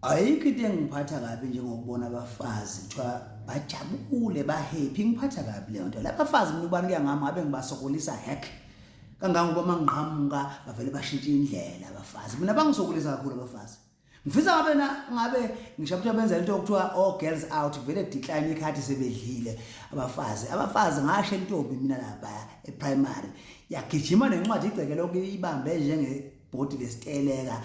ayikho into engiphatha kabi njengokubona abafazi kuthiwa bajabule bahappy ngiphatha kabi leyo nto labafazi mina ubani kuya ngami ngabe ngibasokolisa hack kangangoba mangqhamuka bavele bashintshe indlela abafazi mina bangisokolisa kakhulu abafazi ngifisa ngabe na ngabe ngisho ukuthi benza into okuthiwa oh girls out vele decline ikhathi sebedlile abafazi abafazi ngasho intombi mina lapha eprimary yagijima nencwadi igcekele okuyibambe njenge bhodi lesiteleka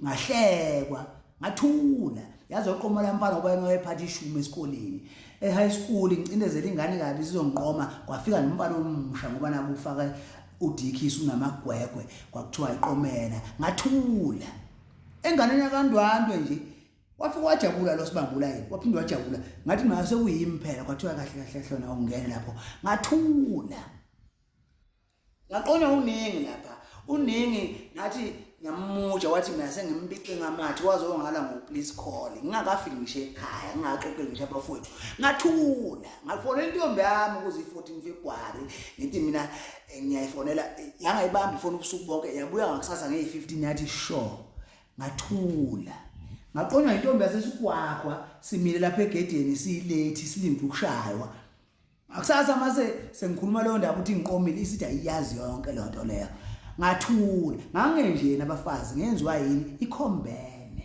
ngahlekwa ngathula yazi oqoma la mfana ngoba yena wayephatha ishumi esikoleni e-high school ngicindezela ingane kabi sizongiqoma kwafika nomfana omusha ngoba nakufaka udikhisi unamagwegwe kwakuthiwa iqomela ngathula enganeni yakandwandwe nje wafike wajabula lo sibambula yini waphinde wajabula ngathi nayo sekuyimi phela kwathiwa kahle kahle hlona ungene lapho ngathula ngaqonywa uningi lapha uningi ngathi ngiyamuja wathi mina sengimpice ngamathi waze ongala ngo please call ngingakafiki ngisho ekhaya ngingaxoxeli ngisho abafowethu ngathula ngafona intombi yami ukuze i-14 february ngithi mina eh, ngiyayifonela yangayibamba ifona ubusuku bonke yabuya ngakusasa ngeyi-15 yathi sure ngathula ngaqonywa intombi yasesigwagwa simile lapha egedeni siyilate silinde ukushaywa Ngakusasa mase sengikhuluma leyo ndaba ukuthi ngiqomile isithi ayiyazi yonke leyo nto leyo. Ngathula, ngangenjena abafazi ngenziwa yini ikhombene.